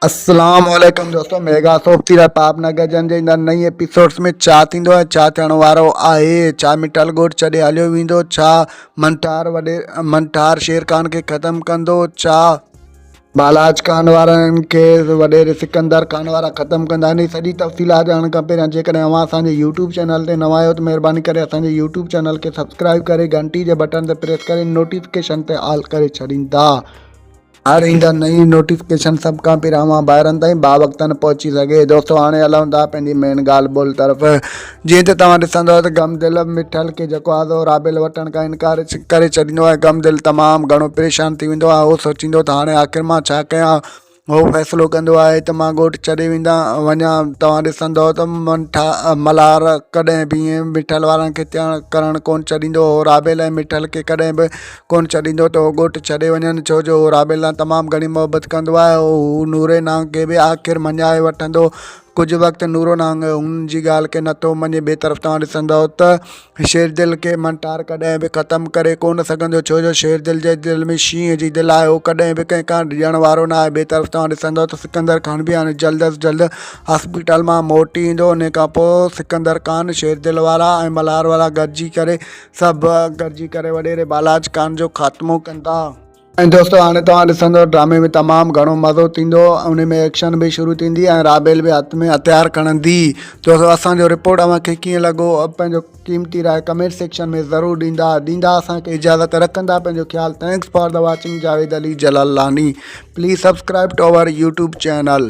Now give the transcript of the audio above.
اسلام عليڪم دوستو ميگا سوپ تي رهي پاپ نگر جن جي اندر نئين ايپيسوڊز ۾ ڇا ٿيندو ۽ ڇا ٿيڻ وارو آهي ڇا مٺل ڳوٺ ڇڏي هليو ويندو ڇا منٺار وڏي منٺار شير خان کي ختم ڪندو ڇا بالاچ خان وارن کي وڏيري سڪندر خان وارا ختم ڪندا ان جي سڄي تفصيلات ڄاڻڻ کان پهريان جيڪڏهن اوهان اسان جي يوٽيوب چينل تي نوان آهيو ته مهرباني ڪري اسان جي يوٽيوب چينل کي سبسڪرائب ڪري گهنٽي جي بٽڻ تي پريس ڪري نوٽيفڪيشن تي آل ڪري ڇڏيندا هر ايندڙ نئين نوٽيفڪيشن سڀ کان پهريان اوهان ڀائرن تائين باوقتن پهچي سگهي. دوستو هاڻي هلون ٿا پنهنجي مين ڳالهه ٻولهه طرف. جيئن ته توهان ڏسندؤ ته غم دل مٺل کي جيڪو آزو رابيل وٺڻ کان انڪار ڪري ڇڏيندو آهي غم دل تمام گهڻو پريشان ٿي ويندو آهي اهو سوچيندو ته هاڻي آخر مان ڇا ڪيان هو فيصلو ڪندو آهي ته مان ڳوٺ ڇڏي ويندا وڃان توهان ڏسندؤ ته منٺا ملهار ڪڏهن به ائين مٺل وارن کي تيڻ ڪرڻ ڪونه ڇڏيندو هو رابيل ۽ مٺل کي ڪڏهن به ڪونه ڇڏيندو ته هو ڳوٺ ڇڏي وڃن، ڇو جو هو رابيل سان تمام گهڻي محبت کندو آهي ۽ هو نوري نانگ کي به آخر مڃائي وٺندو. ڪجهه وقت نورو نانگ هن جي ڳالهه کي نٿو مڃي، ٻي طرف توهان ڏسندؤ ته شيردل کي منٽار ڪڏهن به ختم ڪري ڪونه سگهندو، ڇو جو شيردل جي دل ۾ شينهن جي دل آهي، هو ڪڏهن به ڪنهن کان ڊڄڻ وارو نه آهي، ٻي طرف توهان ڏسندؤ ته سڪندر خان به هاڻي جلد از جلد هاسپيٽل مان موٽي ايندو، انهي کان پوء سڪندر خان، شيردل وارا ۽ ملهار وارا گڏجي ڪري. سڀ گڏجي ڪري وڏيري بالاچ خان جو خاتمو ڪندا. ۽ دوستو هاڻي توهان ڏسندو ڊرامي ۾ تمام گهڻو مزو ٿيندو انهي ۾ ايڪشن به شروع ٿيندي ۽ رابيل به هٿ ۾ هٿيار کڻندي دوستو اسان جو رپورٽ اوهان کي ڪيئن لڳو پنهنجو قيمتي راء ڪمينٽ سيڪشن ۾ ضرور ڏيندا ڏيندا اسان کي اجازت رکندا پنهنجو خيال thanks for the watching Javed Ali Jalalani please subscribe to our YouTube channel.